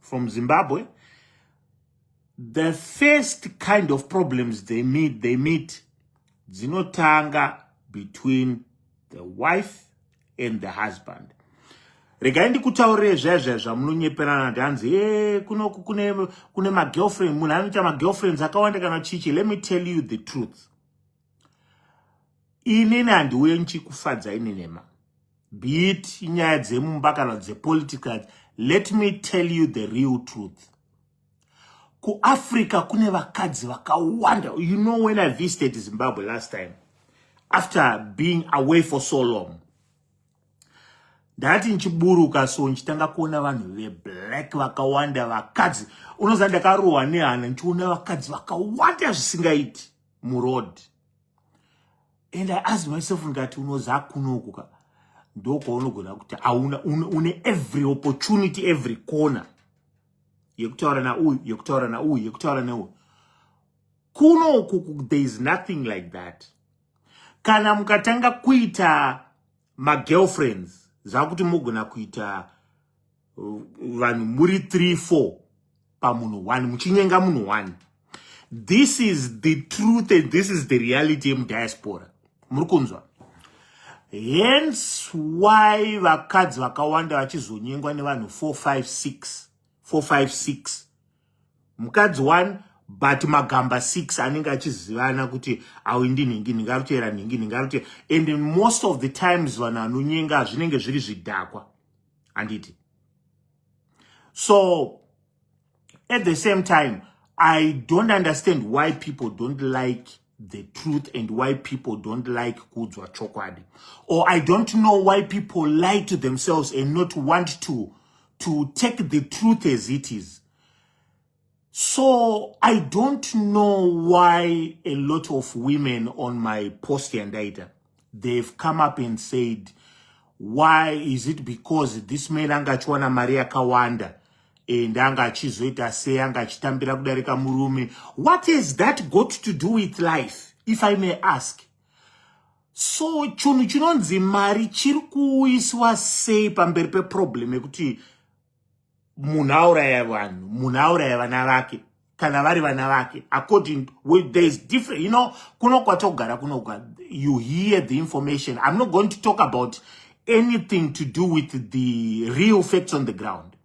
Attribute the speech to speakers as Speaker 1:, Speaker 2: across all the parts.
Speaker 1: from Zimbabwe, the first kind of problems they meet, they meet dzinotanga between the wife and the husband. regai ndikutaurire zvaizvai zvamunonyeperana ndi hanzi e eh, kunoku kune, kune magirlfriend munhu anoita magirlfriends akawanda kana chichi let me tell you the truth inini handiuye ndichikufadzai nenema be it inyaya dzemumba kana dzepolitical let me tell you the real truth kuafrica kune vakadzi vakawanda you know when i visited zimbabwe last time after being away for so long ndati ndichiburuka so ndichitanga kuona vanhu veblack vakawanda vakadzi unoziva ndakarohwa nehana ndichiona vakadzi vakawanda zvisingaiti muroad and i ask myself ndikati unoza kunoko ka ndokwaunogona kuti auna une every opportunity every corner yekutaura nauyu yekutaura nauyu yekutaura neuyu kunoku there is nothing like that kana mukatanga kuita magirlfriends zvakuti mogona kuita vanhu muri 3 4 pamunhu one muchinyenga munhu one this is the truth and this is the reality yemudiaspora muri kunzwa hence why vakadzi vakawanda vachizonyengwa nevanhu 456 456 mukadzi one but magamba 6 anenge achizivana kuti awi ndinhingi ndingarutera nhingi ndingarutera and most of the times vanhu vanonyenga zvinenge zviri zvidhakwa handiti so at the same time i don't understand why people don't like the truth and why people don't like kudzwa chokwadi or i don't know why people lie to themselves and not want to to take the truth as it is So I don't know why a lot of women on my post yandaita they've come up and said why is it because this man anga achiwana mari yakawanda and anga achizoita sei anga achitambira kudarika murume what has that got to do with life if i may ask so chunhu chinonzi mari chiri kuuyiswa sei pamberi peproblem yekuti munhu auraya vanhu munhu auraya vana vake kana vari vana vake according there is different you know kuno kwatogara kunogwa you hear the information i'm not going to talk about anything to do with the real facts on the ground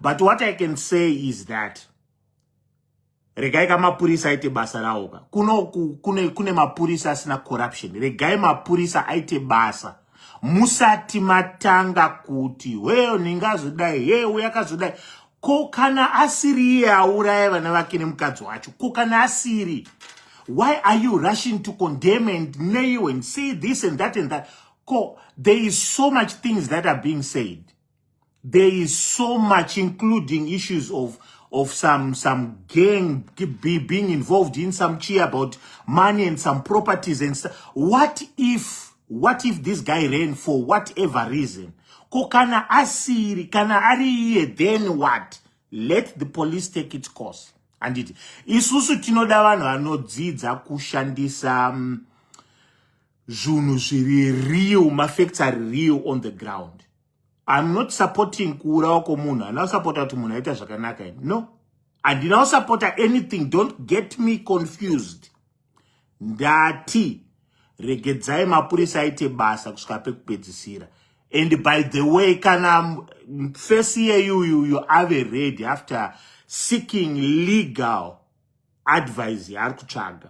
Speaker 1: but what i can say is that regai ka mapurisa aite basa rawo ka kuno kune, kune mapurisa asina corruption regai mapurisa aite basa musati matanga kuti weyo ndingazodai hee uya akazodai ko kana asiri iye auraya vana vake nemukadzi wacho ko kana asiri why are you rushing to condemn and nail and say this and that and that ko there is so much things that are being said There is so much including issues of of some some gang be, being involved in some chi about money and some properties and stuff. What if what if this guy ran for whatever reason? Ko kana asiri kana ari then what? Let the police take its course. Anditi isusu tinoda vanhu vanodzidza kushandisa um, zvunhu zviri real, mafacts are real on the ground. I'm not supporting kuurawa kwomunhu handina kusapota kuti munhu aita zvakanaka ini no handina kusapota anything don't get me confused ndati regedzai mapurisa aite basa kusvika pekupedzisira and by the way kana fesi yeyuyuyu ave ready after seeking legal advice yaari kutsvaga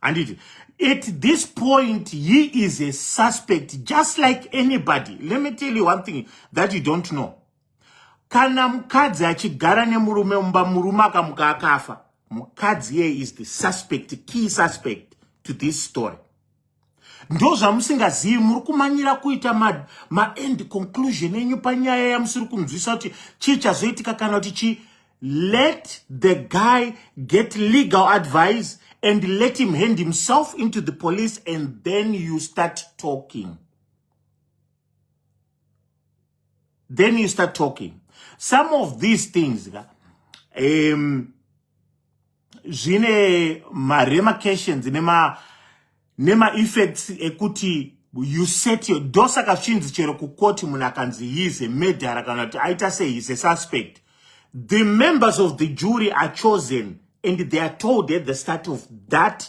Speaker 1: handiti at this point he is a suspect just like anybody let me tell you one thing that you don't know kana mukadzi achigara nemurume mumba murume akamuka akafa mukadzi iye is the suspect key suspect to this story ndozvamusingazivi muri kumanyira kuita maend ma conclusion enyu panyaya yamusiri kunzwisa kuti chii chazoitika kana kuti chii let the guy get legal advice and let him hand himself into the police and then you start talking then you start talking some of these things um, zvine maremarcations nema nemaeffects ekuti you set your do saka zvinzi chero kukoti munhu akanzi he is a murderer kana kuti aita sei is a suspect the members of the jury are chosen and they are told at the start of that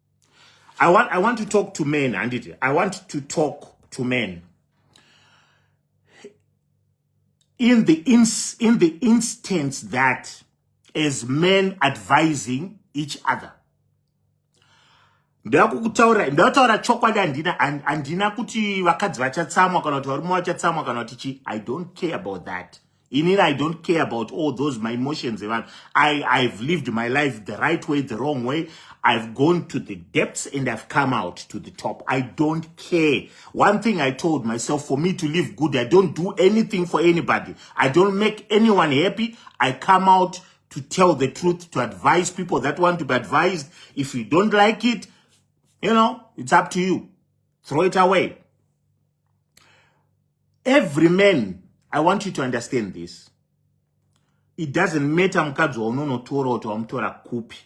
Speaker 1: I want, I want to talk to men handiti i want to talk to men in the, ins, in the instance that as men advising each other ndakukutaura ndakutaura chokwadi andina andina kuti vakadzi vachatsamwa kana kuti varume vachatsamwa kana kuti chi i don't care about that inini i don't care about all those my emotions evanhu i i've lived my life the right way the wrong way i've gone to the depths and i've come out to the top i don't care one thing i told myself for me to live good i don't do anything for anybody i don't make anyone happy i come out to tell the truth to advise people that want to be advised if you don't like it you know it's up to you throw it away every man i want you to understand this it doesn't matter mukadzi waunonotora kuti wamutora kupi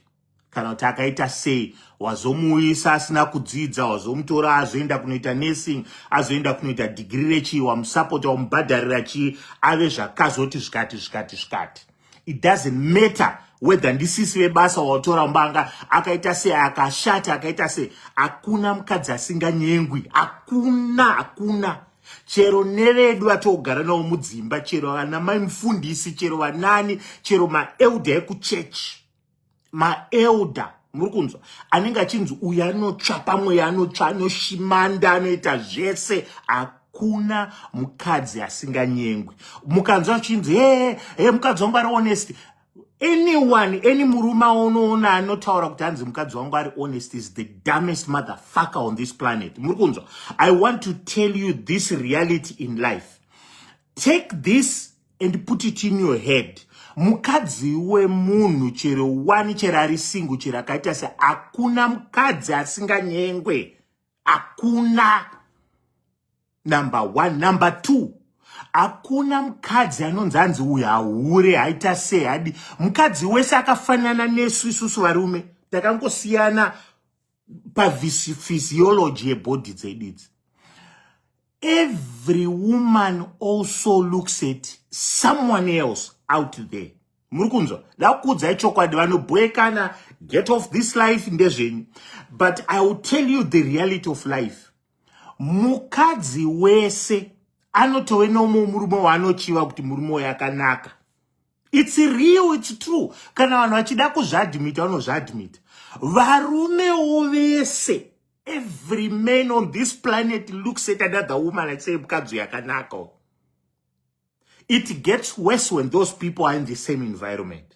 Speaker 1: kana kuti akaita sei wazomuuyisa asina kudzidza wazomutora azoenda kunoita nursing azoenda kunoita dhigiri rechii wamusapota wamubhadharira chii ave zvakazoti zvikati zvikati zvikati it doesn't matter whether ndisisi vebasa waotora mbanga akaita sei akashati akaita sei hakuna mukadzi asinganyengwi hakuna hakuna chero nevedu vatogara navo mudzimba chero vana mai mufundisi chero vanani chero maelda ekuchechi maelder muri kunzwa anenge achinzi uyu anotsva pamweya anotsva anoshimanda anoita zvese hakuna mukadzi asinganyengwi mukanzwa achinzi hee hee mukadzi wangu ari honest anyone any murume aunoona anotaura kuti hanzi mukadzi wangu ari honest is the dumbest mother fucker on this planet muri kunzwa i want to tell you this reality in life take this and put it in your head mukadzi wemunhu chero wani chero ari singu chero akaita se hakuna mukadzi asinganyengwe hakuna number one number two hakuna mukadzi anonzi anzi uyu hahure haita sei hadi mukadzi wese akafanana nesu isusu varume takangosiyana pavisiology yebody dzedu idzi every woman also looks at someone else out there muri kunzwa dakuudzai chokwadi vanobhoekana get off this life ndezvenyu but i will tell you the reality of life mukadzi wese anotove noumwe murume waanochiva kuti murume uyo akanaka its real its true kana vanhu vachida kuzviadmita vanozviadmita varumewo vese every man on this planet looks at another woman and say mukadzi yakanaka it gets worse when those people are in the same environment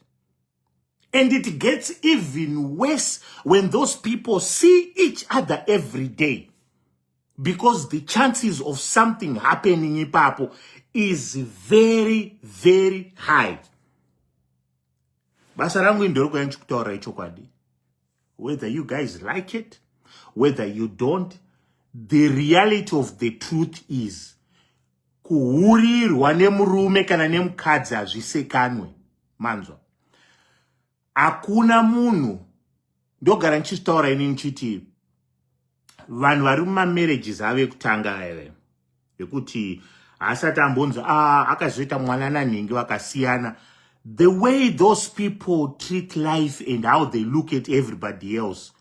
Speaker 1: and it gets even worse when those people see each other every day because the chances of something happening ipapo is very very high basa rangu indori kuya ndichikutaura ichokwadi whether you guys like it whether you don't the reality of the truth is kuhurirwa nemurume kana nemukadzi hazvisekanwe manzwa hakuna munhu ndogara ndichitaura ini ndichiti vanhu vari mumamarriages avo ekutanga vaive yekuti haasati ambonzi ah, akazoita mwana nanhingi vakasiyana the way those people treat life and how they look at everybody else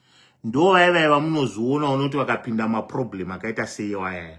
Speaker 1: ndo vaive vamunoziona unoti vakapinda maproblem akaita seiwayaya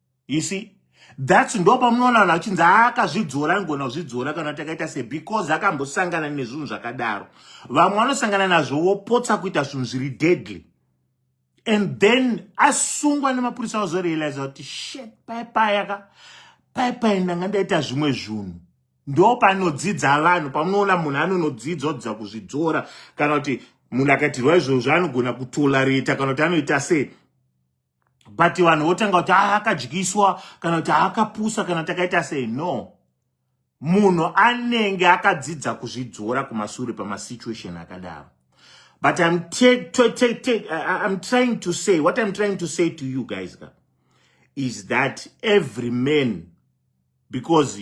Speaker 1: you see thats ndo pamunoona vanhu vachinzi akazvidzora angona kuzvidzora kana kuti akaita se because akambosangana nezvinhu zvakadaro vamwe vanosangana nazvo vopotsa kuita zvinhu zviri deadly and then asungwa nemapurisa vazorealiza kuti shet paipayaka paipai ndanga ndaita zvimwe zvinhu ndo panodzidza vanhu pamunoona munhu anonodzidzwa kudza kuzvidzora kana kuti munhu akaitirwa izvozvo anogona kutolareta kana kuti anoita sei but vanhu votanga kuti haa akadyiswa kana kuti haa akapusa kana takaita sei no munhu anenge akadzidza kuzvidzora kumasure pamasituation akadaro but I'm, take, take, take, take, I'm trying to say what I'm trying to say to you guys is that every man because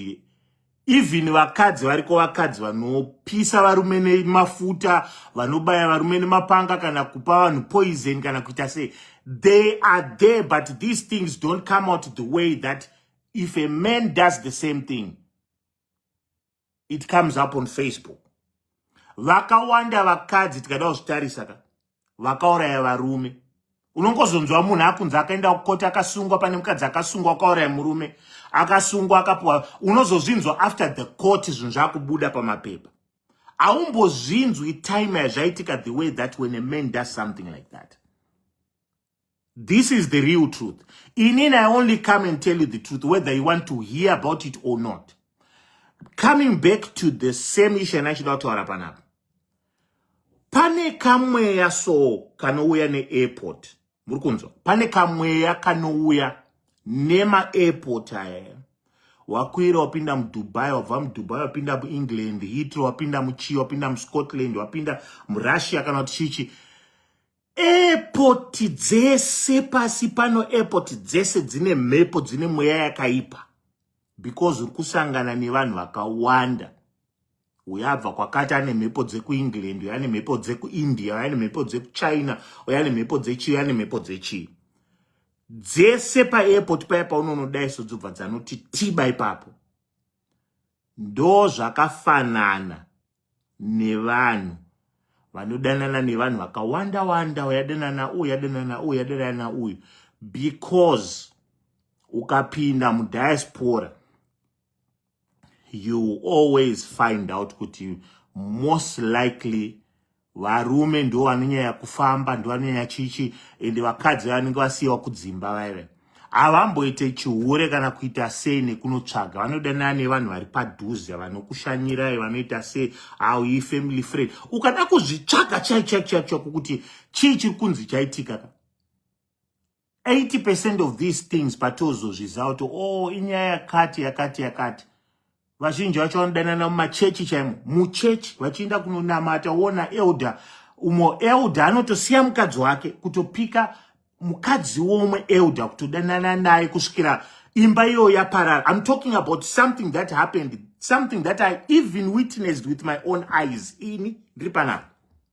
Speaker 1: even vakadzi variko vakadzi vanopisa varume nemafuta vanobaya varume nemapanga kana kupa vanhu poison kana kuita sei they are there but these things don't come out the way that if a man does the same thing it comes up on facebook vakawanda vakadzi tikada kuzvitarisa ka vakauraya varume unongozonzwa munhu akunzi akaenda kukoti akasungwa pane mukadzi akasungwa akauraya murume akasungwa akapuwa unozozvinzwa after the court zvinhu zvakubuda pamapepa aumbozvinzwi time yazvaitika the way that when a man does something like that This is the real truth. Inini, I only come and tell you the truth, whether you want to hear about it or not. Coming back to the same issue and achida kutaura panapa. Pane kamweya so kanouya neairport. Muri kunzwa? Pane kamweya kanouya nemairport aya. Wakwira wapinda muDubai, wabva muDubai wapinda muEngland, Heathrow wapinda muchii, wapinda muScotland, wapinda muRussia kana kuti chichi. Airport dzese pasi pano airport dzese dzine mhepo dzine mweya yakaipa because uri kusangana nevanhu vakawanda uyo abva kwakati ane mhepo dzekuengland uyo ane mhepo dzekuindia uyo ane mhepo dzekuchina uyo ane mhepo dzechii ane mhepo dzechii dzese paairport paya paunonodai so dzobva dzanoti tiba ipapo ndo zvakafanana nevanhu vanodanana nevanhu vakawanda wanda uyadanana uyu yadanana uyu yadanana uyu because ukapinda mudiaspora you always find out kuti most likely varume ndo vanonyanya kufamba ndo vanonyanya chichi ende vakadzi vanenge vasiyiwa kudzimba vaive havamboite chihure kana kuita sei nekunotsvaga vanodanana nevanhu vari padhuze vanokushanyirai vanoita sei aui family friend ukada kuzvitsvaga chaichaichaicho kukuti chii chiri kunzi chaitika ka 80 percent of these things patozozviziva kuti o oh, inyaya yakati yakati yakati vazhinji vacho vanodanana mumachechi chaimo muchechi vachiinda kunonamata wona elder umo elder anotosiya mukadzi wake kutopika mukadzi womwe elder kutodanana naye kusvikira imba iyoyo yaparara im talking about something that happened something that i even witnessed with my own eyes ini ndiri panapa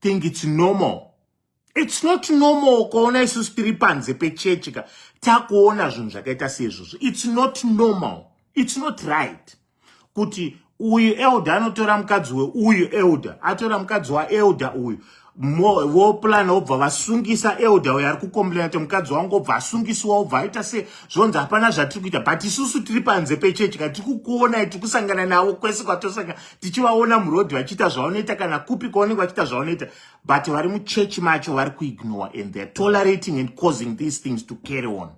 Speaker 1: think it's normal it's not normal ukaona isusu tiri panze pechechi ka takuona zvinhu zvakaita seizvozvo it's not normal it's not right kuti uyu elder anotora mukadzi weuyu elder atora mukadzi waelder uyu voplan obva vasungisa elder uyo ari kucomplaina kuti mukadzi wangu obva asungisiwa obva aita se zvonzi hapana zvatiri kuita but isusu tiri panze pechechi ka tiri kukuonai tiri kusangana navo kwese kwatosangana tichivaona muroad vachiita zvavanoita kana kupi kwavanenge vachiita zvavanoita but vari muchechi macho vari kuignore and theyare tolerating and causing these things to carry on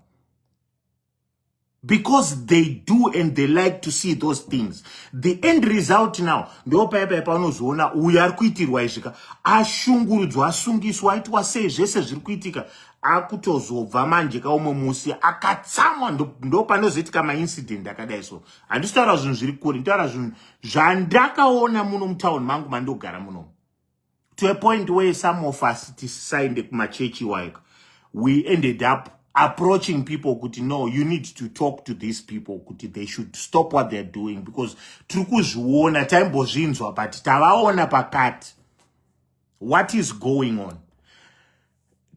Speaker 1: because they do and they like to see those things the end result now ndo paya paya paunozoona uyo ari kuitirwa izvika ashungurudzwa asungiswa aitwa sei zvese zviri kuitika akutozobva manje kaumwe musi akatsamwa ndo panozoitika maincident akadai so handisi taura zvinhu zviri kure nditaura zvinhu zvandakaona muno mutown mangu mandogara muno to a point where some of us tisisaende kumachechi iwayoka we ended up approaching people kuti no you need to talk to these people kuti they should stop what theyare doing because tiri kuzviona taimbozvinzwa but tavaona pakati what is going on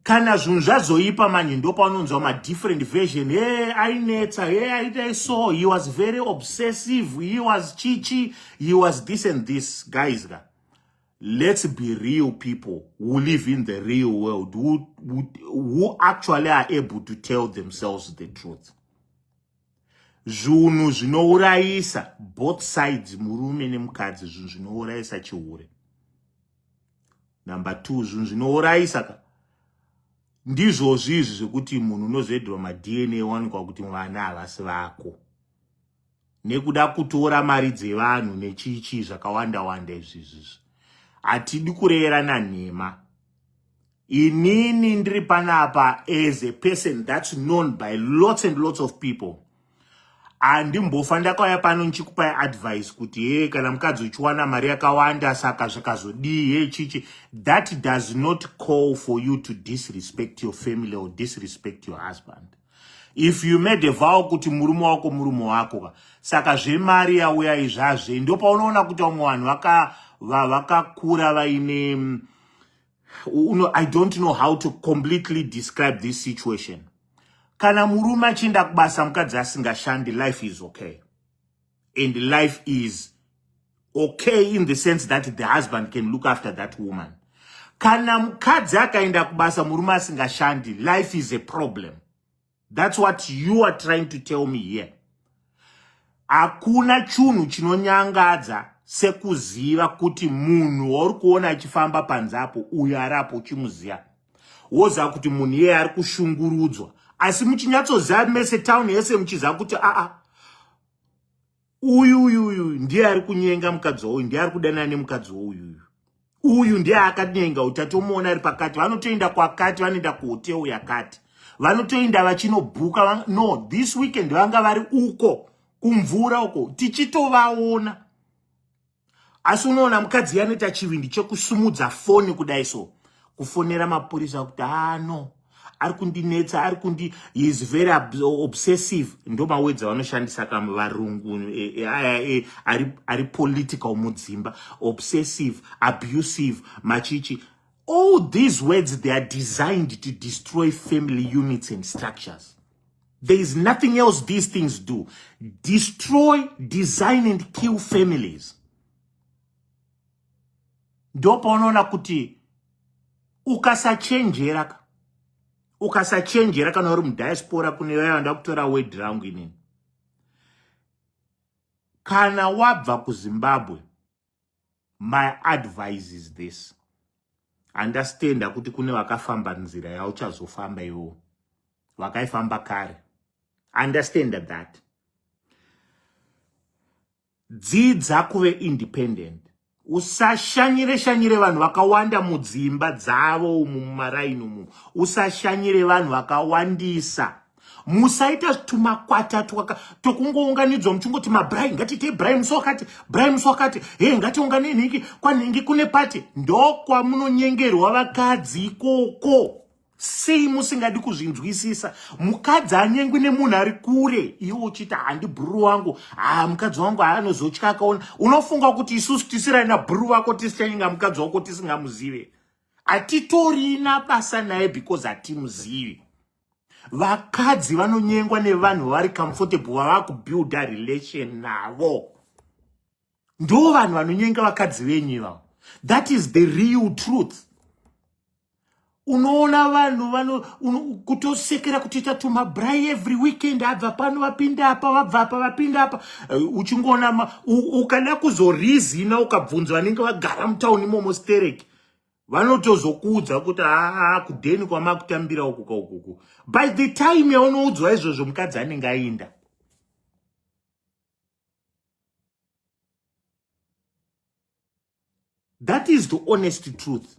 Speaker 1: kana zvinhu zvazoipa manje ndopaunonzwa madifferent version he hey, ainetsa he hey, aitai so he was very obsessive he was chichi he was this and this guys ka let's be real people who live in the real world who, who, who actually are able to tell themselves the truth zvinhu zvinourayisa both sides murume nemukadzi zvinhu zvinourayisa chihure Number two, zvinhu zvinourayisa ka ndizvozvi izvi zvekuti munhu unozoedwa madna wanikwa kuti vana havasi vako nekuda kutora mari dzevanhu nechiichii zvakawanda wanda izvizvizvi hatidi kureyerana nhema inini ndiri panapa as a person that's known by lots and lots of people handimbofa ndakauya pano ndichikupai advice kuti hee kana mukadzi uchiwana mari yakawanda saka zvakazodii hee chichi that does not call for you to disrespect your family or disrespect your husband if you made a vow kuti murume wako murume wako ka saka zvemari yauya izvazve ndopa unoona kuti vamwe vanhu vakakura vaine uno i don't know how to completely describe this situation kana murume achienda kubasa mukadzi asingashandi life is okay and life is okay in the sense that the husband can look after that woman kana mukadzi akaenda kubasa murume asingashandi life is a problem That's what you are trying to tell me here. Hakuna chunhu chinonyangadza sekuziva kuti munhu wauri kuona achifamba panze apo uyo ari apo uchimuziva woziva kuti munhu iyeye ari kushungurudzwa asi muchinyatsoziva mese town yese muchiziva kuti aa uyu uyu uyu ndiye ari kunyenga mukadzi wauyu ndiye ari kudanana nemukadzi wouyu uyu uyu ndiye akanyenga utatomuona ari pakati vanotoenda kwakati vanoenda kuhoteu yakati vanotoenda vachinobhuka no this weekend vanga vari uko kumvura uko tichitovaona asi unoona mukadzi yanoita chivindi chekusumudza foni kudai so kufonera mapurisa kuti ano ah, ari kundinetsa ari kundi is very obsessive ndo mawedzi avanoshandisa kam varungu e, e, e, ari, ari political mudzimba obsessive abusive machichi all these words they are designed to destroy family units and structures There is nothing else these things do. Destroy, design and kill families. Ndopo unoona kuti ukasachenjera ka. Ukasachenjera kana uri mudiaspora kune vaya vanoda kutora word rangu inini. Kana wabva kuZimbabwe my advice is this andastenda kuti kune vakafamba nzira yauchazofamba iwo vakaifamba kare andastenda that dzidza kuve independent usashanyire shanyire vanhu vakawanda mudzimba dzavo umu mumaraini umu usashanyire vanhu vakawandisa musaita tumakwata tokungounganidzwa muchingoti mabrai ngatiitei brai musi wakati brai musi wakati he ngatiunganei nhingi kwanhingi kune pati ndokwamunonyengerwa vakadzi ikoko sei musingadi kuzvinzwisisa mukadzi anyengwi nemunhu ari kure iwe uchiita handi bhuru wangu haa mukadzi wangu haanozotya akaona unofunga kuti isusu tisirai nabhuru vako tisichanyenga mukadzi wako tisingamuzive hatitorina basa naye because hatimuzivi vakadzi vanonyengwa nevanhu vari comfortable vava kubuilda relation navo ndo vanhu vanonyenga vakadzi venyu ivavo that is the real truth unoona vanhu vano kutosekera kutoita tumabrai every weekend abva pano vapinda apa vabva apa vapinda apa eh, uchingoona ukada kuzorizina ukabvunzwa vanenge vagara mutauni imomo stereki vanotozokuudza kuti aa kudheni kwamakutambira uku kaukuku by the time yaunoudzwa izvozvo mukadzi anenge ainda that is the honest truth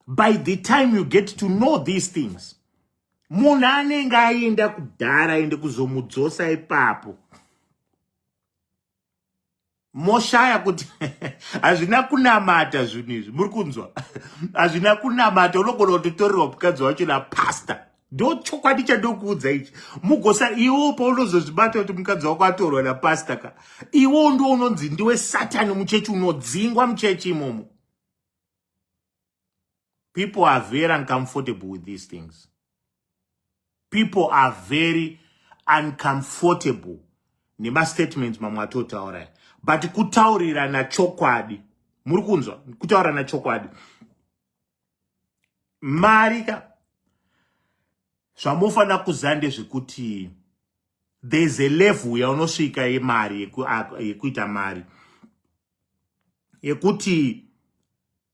Speaker 1: by the time you get to know these things munhu anenge aenda kudhara ende kuzomudzosa ipapo moshaya kuti hazvina kunamata zvinhu izvi muri kunzwa hazvina kunamata unogona kutotorerwa mukadzi wacho napasta ndo chokwadi chandokuudza ichi mugosa iwo paunozozvibata kuti mukadzi wako atorwa napasta ka iwo ndo unonzi ndiwe satani muchechi unodzingwa muchechi imomo people are very uncomfortable with these things people are very uncomfortable nemastatement mamwe atotaura but kutaurirana chokwadi muri kunzwa kutaurirana chokwadi mari ka zvamofanira kuziva ndezvekuti there's a level yaunosvika yemari yekuita mari yekuti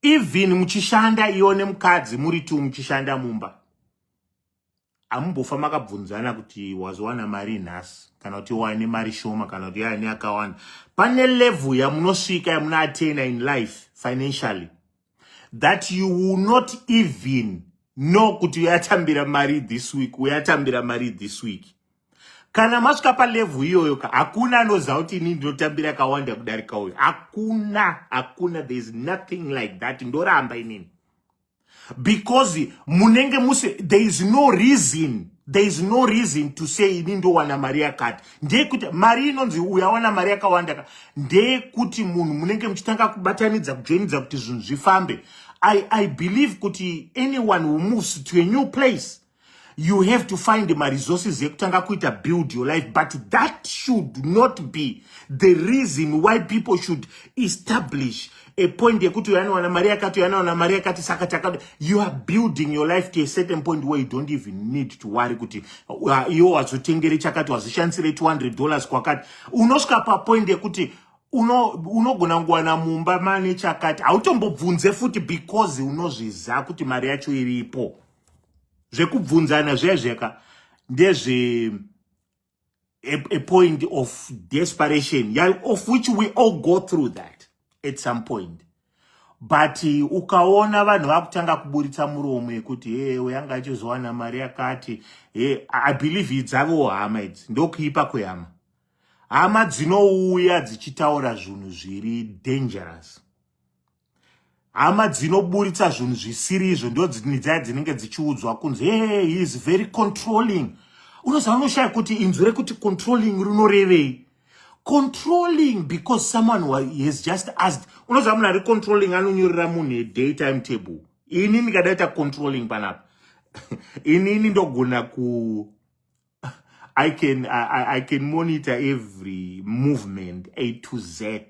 Speaker 1: even muchishanda iyo nemukadzi muri two muchishanda mumba amumbofa makabvunzana kuti wazowana mari nhasi kana kuti wane mari shoma kana kuti yane akawanda pane level yamunosvika yamunoatena in life financially that you will not even know kuti uyatambira mari this week uyatambira mari this week kana masvika palevhu iyoyo ka hakuna anoziva kuti ini ndinotambira kawanda kudarika uyo hakuna hakuna there is nothing like that ndoramba inini because munenge muse there is no reason there is no reason to say ini ndowana mari yakati ndeyekuti mari inonzi uya wana mari yakawanda ka ndeyekuti munhu munenge muchitanga kubatanidza kujoinidza kuti zvinhu zvifambe i i believe kuti anyone who moves to a new place you have to find maresources ekutanga kuita build your life but that should not be the reason why people should establish a point yekuti uyo anowana mari yakati uyo anowana mari yakati saka takada you are building your life to a certain point where you don't even need to worry kuti uh, iwo wazotengere chakati wazoshandisire 200 dollars kwakati unosvika papoint yekuti unogona uno kuwana mumba mane chakati hautombobvunze futi because unozviziva kuti mari yacho iripo zvekubvunzana zviya zviyaka ndezve a, a point of desperation yeah, of which we all go through that at some point but uh, ukaona vanhu vakutanga kuburitsa muromo yekuti he uyo anga achizowana mari yakati he i believe idzavo hama idzi ndokuipa kwehama hama dzinouya dzichitaura zvinhu zviri dangerous hama dzinoburitsa zvinhu zvisiri izvo ndo dzaya dzinenge dzichiudzwa kunzi hey, he is very controlling unoziva unoshaya kuti inzwi rekuti controlling rinorevei controlling because someone has just asked unoziva munhu ari controlling anonyorera munhu eday time table ini ndikadaita controlling panapa inini ndogona ku I can, I, I can monitor every movement A to Z.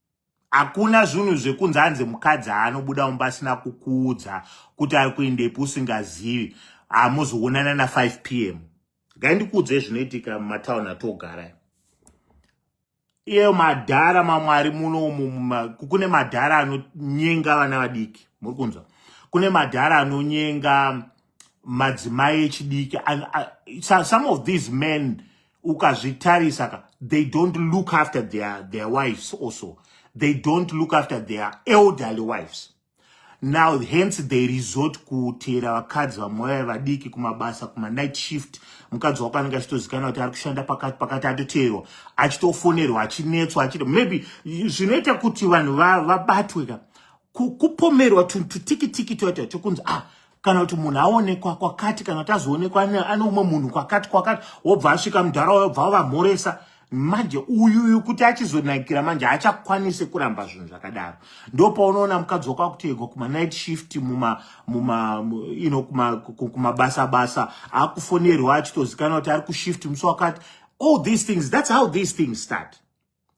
Speaker 1: hakuna zvinhu zvekunzi anzi mukadzi aanobuda mumba asina kukuudza kuti ari kuendepi usingazivi hamuzoonana na 5 p m gai ndikuudzei zvinoitika mumatauni atogara iyeyo madhara mamwari muno umu kune madhara anonyenga vana vadiki muri kunzwa kune madhara anonyenga madzimai echidiki and uh, so, some of these men ukazvitarisa ka they don't look after their, their wives also they don't look after their elderly wives now hence they resort kuteera vakadzi vamwe vaya vadiki kumabasa kumanight shift mukadzi wako anenge achitozikanwa kuti ari kushanda pakati pakati atoteerwa achitofonerwa achinetswa achito maybe zvinoita kuti vanhu vabatwe ka kupomerwa tutikitiki toita chokunzi ah kana kuti munhu aonekwa kwakati kana kuti azoonekwa ane umwe munhu kwakati kwakati wobva asvika mudhara wayo bva wavamhoresa manje uyu uyu kuti achizonakira manje haachakwanisi kuramba zvinhu zvakadaro ndo paunoona mukadzi wakwakutegwa kumanight shift muma muma you know kumabasa basa akufonerwa achitozikanwa kuti ari kushift musi wakati all these things that's how these things start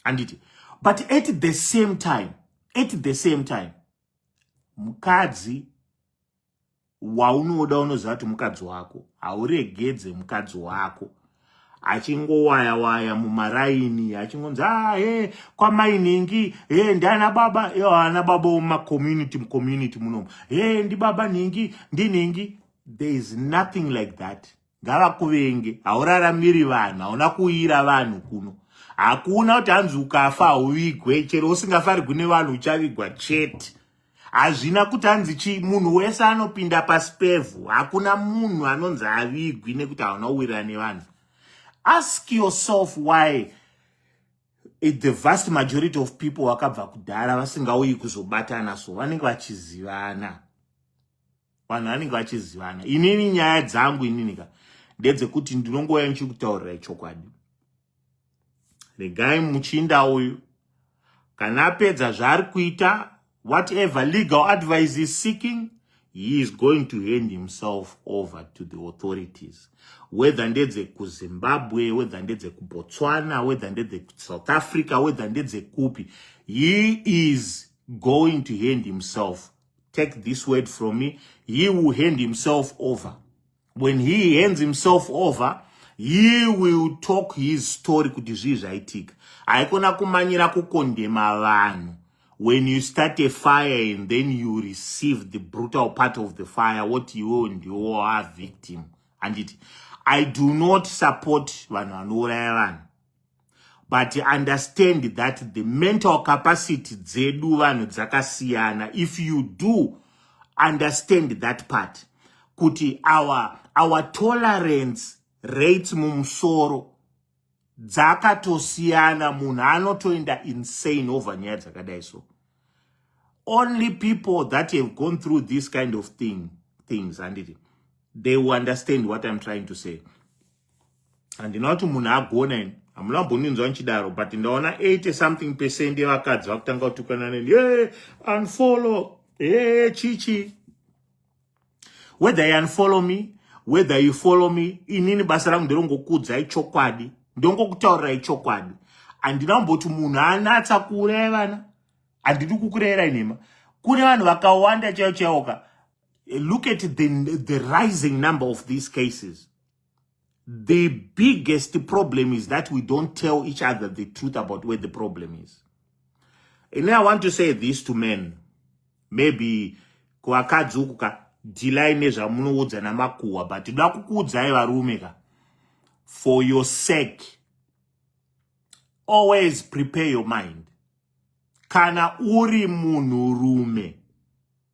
Speaker 1: handiti but at the same time at the same time mukadzi waunoda unoziva kuti mukadzi wako hauregedze mukadzi wako achingowaya waya mumaraini achingonzi ah he kwamainhingi he ndiana baba yo ana baba mumacomunity mucommunity munomu he ndibaba nhingi ndinhingi there is nothing like that ngavakuvenge hauraramiri vanhu hauna kuuyira vanhu kuno hakuna kuti hanzi ukafa hauvigwe chero usingafarigwi nevanhu uchavigwa chete hazvina kuti hanzi chii munhu wese anopinda pasi pevhu hakuna munhu anonzi avigwi nekuti hauna uwirira nevanhu ask yourself why it the vast majority of people vakabva kudhara vasingauyi kuzobatana so vanenge vachizivana vanhu vanenge vachizivana inini nyaya dzangu inini ka ndedzekuti ndinongouya ndichikutaurirai chokwadi regai muchinda uyu kana apedza zvaari kuita whatever legal advice is seeking he is going to hand himself over to the authorities whether ndedze kuzimbabwe whether ndedze kubotswana whether ndedze kusouth africa whether ndedze kupi he is going to hand himself take this word from me he will hand himself over when he hands himself over he will talk his story kuti zvii zvaitika haikona kumanyira kukondema vanhu when you start a fire and then you receive the brutal part of the fire what you and you are victim handiti i do not support vanhu vanouraya vanhu but understand that the mental capacity dzedu vanhu dzakasiyana if you do understand that part kuti our, our tolerance rates mumusoro dzakatosiyana munhu anotoenda insane over nyaya dzakadai so only people that have gone through this kind of thing things handiti they will understand what i'm trying to say handina kuti munhu agona ini hamuna mbonunzwa ndichidaro but ndaona 80 something percent yevakadzi vakutanga kutukana neni ye unfollow e chichi whether you unfollow me whether you follow me inini basa rangu nderongokuudzai chokwadi ndongokutaurirai chokwadi handina kumboti munhu anatsa kuuraya vana handidi kukurayira nhema kune vanhu vakawanda chaiwo chaiwoka Look at the, the rising number of these cases. The biggest problem is that we don't tell each other the truth about where the problem is. And I want to say this to men. Maybe kuvakadzi uku ka dhilai nezvamunoudza namakuhwa but ndoda kukuudzai varume ka for your sake always prepare your mind kana uri munhurume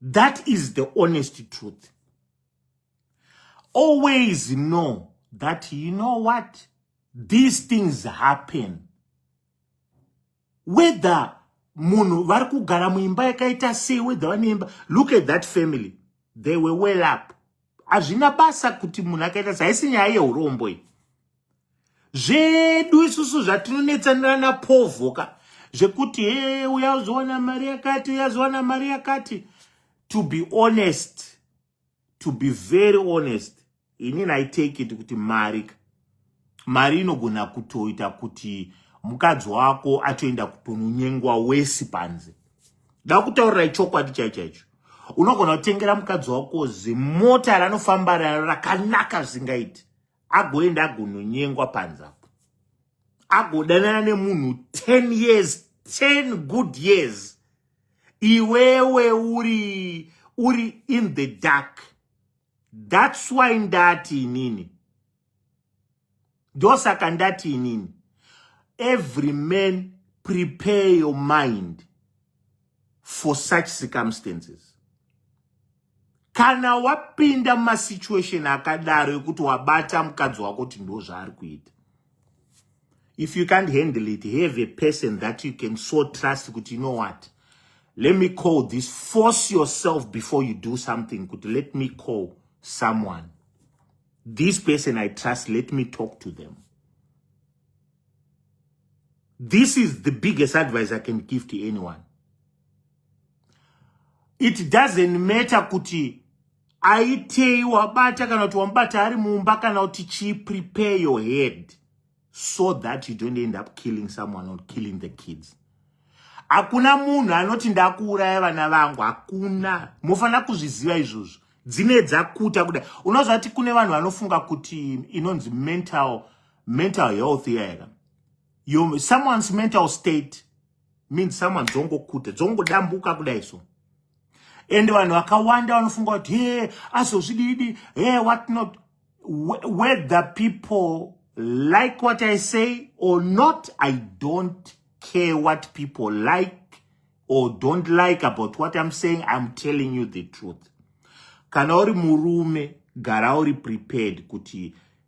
Speaker 1: That is the honest truth. Always know that you know what? These things happen. Whether munhu vari kugara muimba yakaita sei whether vane imba look at that family they were well up hazvina basa kuti munhu akaita sei haisi nyaya yeurombo iyi zvedu isusu zvatinonetsanira napovoka zvekuti he uyazowana mari yakati uyazowana mari yakati to be honest to be very honest ini nai take it kuti mari mari inogona kutoita kuti mukadzi wako atoenda kutononyengwa wesi panze da kutaurira ichokwadi chaichaicho unogona kutengera mukadzi wako zimota ranofamba raro rakanaka zvingaiti agoenda agononyengwa panze apo agodanana nemunhu 10 years 10 good years iwewe uri uri in the dark that's why ndati inini ndosaka ndati inini every man prepare your mind for such circumstances Kana wapinda mumasituation akadaro ekuti wabata mukadzi wako kuti ndo zvaari kuita, if you can't handle it, have a person that you can so trust kuti you know what, let me call this, force yourself before you do something kuti let me call someone. This person I trust, let me talk to them. This is the biggest advice I can give to anyone. it doesn't matter kuti aitei wabata kana kuti wamubata ari mumba kana kuti chii prepare your head so that you don't end up killing someone or killing the kids hakuna munhu anoti ndakuuraya vana vangu hakuna mofanira kuzviziva izvozvo dzine dzakuta kudai unozvati kune vanhu vanofunga kuti inonzi mental mental health iya yaka someone's mental state means someone dzongokute dzongodambuka kudai so and vanhu vakawanda vanofunga kuti he azozvididi he what not whether people like what i say or not i don't care what people like or don't like about what i'm saying i'm telling you the truth kana uri murume gara uri prepared kuti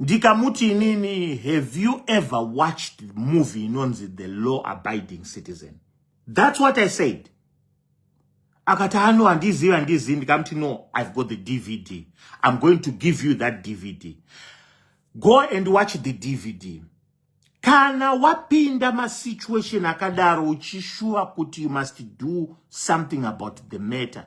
Speaker 1: ndikamuti inini have you ever watched movie inonzi the law abiding citizen that's what i said akati ano ah, handizivi handizivi ndikamuti no i've got the dvd i'm going to give you that dvd go and watch the dvd kana wapinda masituation akadaro uchishuva kuti you must do something about the matter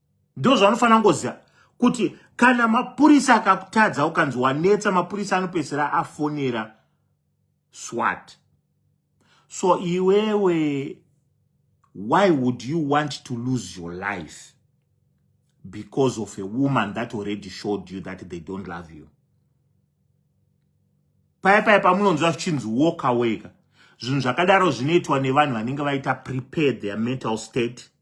Speaker 1: ndozvanofanira ngoziva kuti kana mapurisa akakutadza ukanzi wanetsa mapurisa anopedzisira afonera swat so iwewe why would you want to lose your life because of a woman that already showed you that they don't love you paya paya pamunonzwa zvichinzi walk away ka zvinhu zvakadaro zvinoitwa nevanhu vanenge vaita prepared their mental state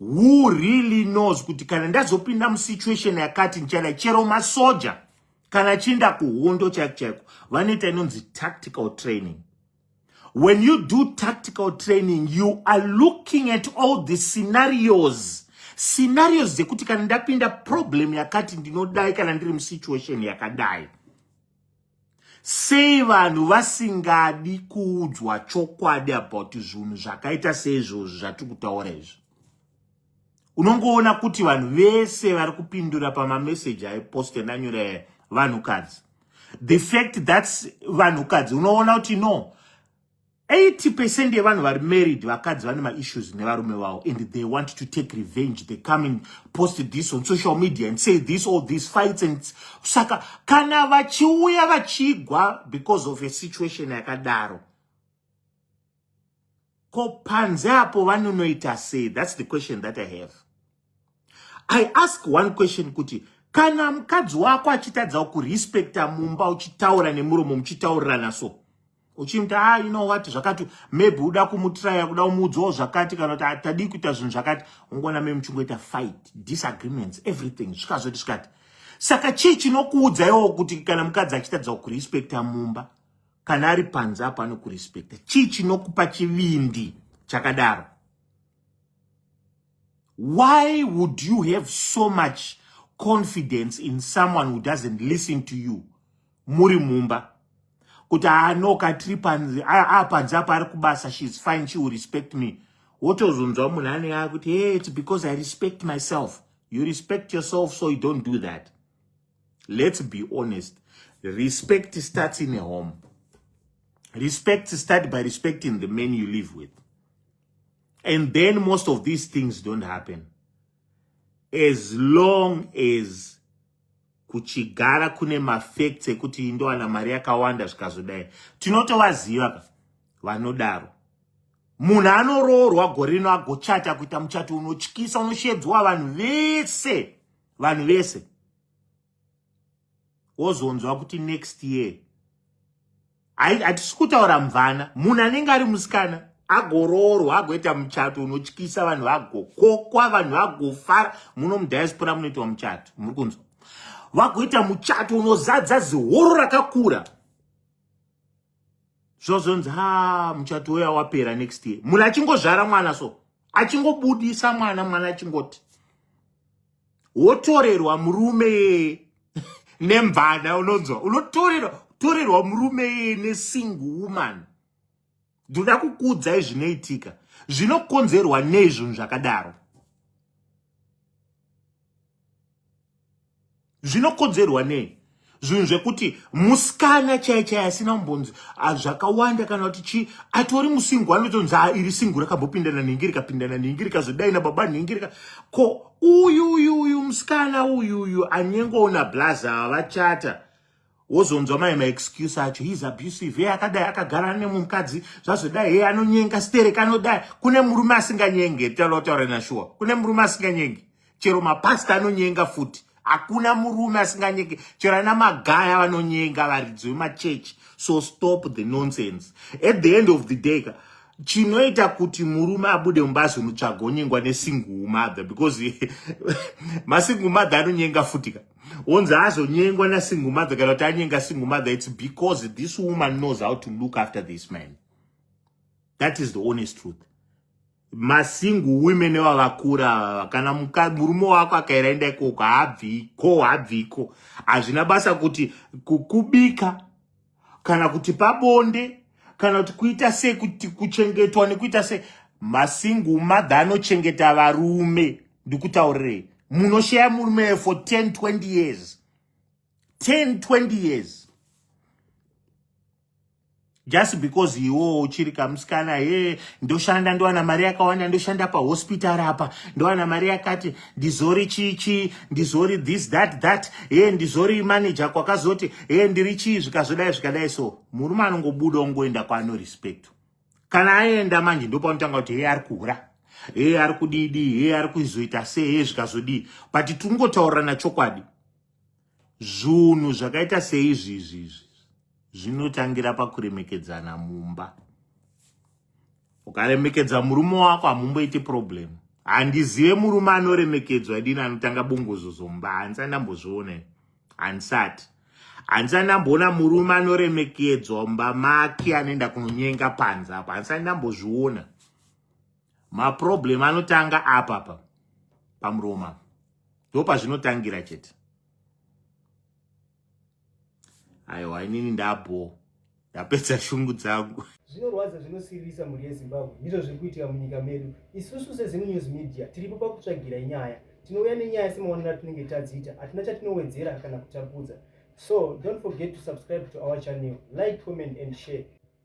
Speaker 1: who really knows kuti kana ndazopinda musituation yakati ndichada chero masoja kana chiinda kuhondo chaiko chaiko vanoita inonzi tactical training when you do tactical training you are looking at all the scenarios scenarios dzekuti kana ndapinda problem yakati ndinodai kana ndiri musituation yakadai Sei vanhu vasingadi kuudzwa chokwadi about zvinhu zvakaita seizvozvi zvatiri kutaura izvi? Unongoona kuti vanhu vese vari kupindura pamameseji aipost endanyore vanhukadzi. The fact that vanhukadzi unoona kuti no, 80 percent yevanhu vari married vakadzi vane maissues nevarume vavo and they want to take revenge they come and post this on social media and say this all these fights and saka kana vachiuya vachigwa because of a situation yakadaro ko panze apo vanonoita sei that's the question that i have i ask one question kuti kana mukadzi wako achitadzawo kurespecta mumba uchitaura nemuromo muchitaurirana so uchimuti a ah, you know what zvakati maybe uda kumutraya kuda kumuudzawo zvakati kana kuti ah, tadii kuita zvinhu zvakati ungoona me muchingoita fight disagreements everything zvikazoti zvikati saka chii chinokuudzaiwo kuti kana mukadzi achitadzawo kurespecta mumba kana ari panze apo anokurespecta chii chinokupa chivindi chakadaro Why would you have so much confidence in someone who doesn't listen to you muri mumba kuti anoka ah, tiri panzi apanzi ah, ah, apa ari kubasa she is fine she will respect me wotozonzwa munhu anenge akuti hey it's because i respect myself you respect yourself so you don't do that let's be honest respect starts in a home respect start by respecting the men you live with and then most of these things don't happen as long as kuchigara kune mafacts ekuti indowana mari yakawanda zvikazodai tinotovaziva ka vanodaro munhu anoroorwa gore rino agochata kuita muchato unotyisa unoshedzwa vanhu vese vanhu vese wozonzwa kuti next year hatisi kutaura mvana munhu anenge ari musikana agoroorwa agoita muchato unotyisa vanhu vagokokwa vanhu vagofara muno mudiaspora munoitwa muchato muri kunzwa vagoita muchato unozadza zihoro rakakura zvozonzi ha muchato uya wapera next year munhu achingozvara mwana so achingobudisa mwana mwana achingoti wotorerwa murume nemvana unonzwa unotorerwa torerwa murume yeye nesingle woman ndoda kukuudzai zvinoitika zvinokonzerwa nei zvinhu zvakadaro zvinokodzerwa nei zvinhu zvekuti musikana chai chai asina kumbonzi ah, zvakawanda kana kuti chii atori musingu anotonzi ah, iri singu rakambopindana nhingi rikapindana nhingi rikazodai nababa nhingi rika ko uyu uyu uyu musikana uyu uyu anyengoona blaza vachata wozonzwa mai maexcuse acho heis abusive hey akadai akagara ane mukadzi zvazodai hey anonyenga sterek anodai kune murume asinganyenge talotaura nashuwa kune murume asinganyenge chero mapasta anonyenga futi hakuna murume asinganyenge chero ana magaya vanonyenga varidzi vemachechi so stop the nonsense at the end of the day ka chinoita kuti murume abude mumba azonotsvaga onyengwa nesingle mother because masingle mother anonyenga futi ka onzi azonyengwa nasingle mother kana kuti anyenga single mother it's because this woman knows how to look after this man that is the honest truth masingle women evavakura kana murume wako akairaenda ikoko haabviko haabviko hazvina basa kuti kukubika kana kuti pabonde kana kuti kuita sei kuti kuchengetwa nekuita sei masingle mother anochengeta varume ndikutaurirei munoshaya murume for 10 20 years 10 20 years just because iwo uchiri kamusikana ye ndoshanda ndowana mari yakawanda ndoshanda pahospital apa ndowana mari yakati ndizori chii chii ndizori this that that e ndizori manager kwakazoti e ndiri chii zvikazodai zvikadai so murume anongobuda ongoenda kwaano respect kana aenda manje ndopanotanga kuti hei ari kuhura hei ari kudidii hei ari kuizoita sei hei zvikazodii but tiri ngotaurirana chokwadi zvunhu zvakaita seizvi izvi izvi zvinotangira pakuremekedzana mumba ukaremekedza murume wako hamumboiti problem handizive murume anoremekedzwa dini anotanga bongozo zomba handisati ndambozviona handisati handisati ndamboona murume anoremekedzwa mumba make anoenda kunonyenga panze apo handisati ndambozviona maproblem anotanga apapa pamuroma ndopazvinotangira chete aiwa inini ndabhoo ndapedza shungu dzangu zvinorwadza zvinosiririsa
Speaker 2: mhuri yezimbabwe ndizvo zviri kuitika munyika medu isusu sezinu news media tiripo pakutsvagirai nyaya tinouya nenyaya semaonero atinenge tadziita hatina chatinowedzera kana kutapudza so don't forget to subscribe to our channel like comment and share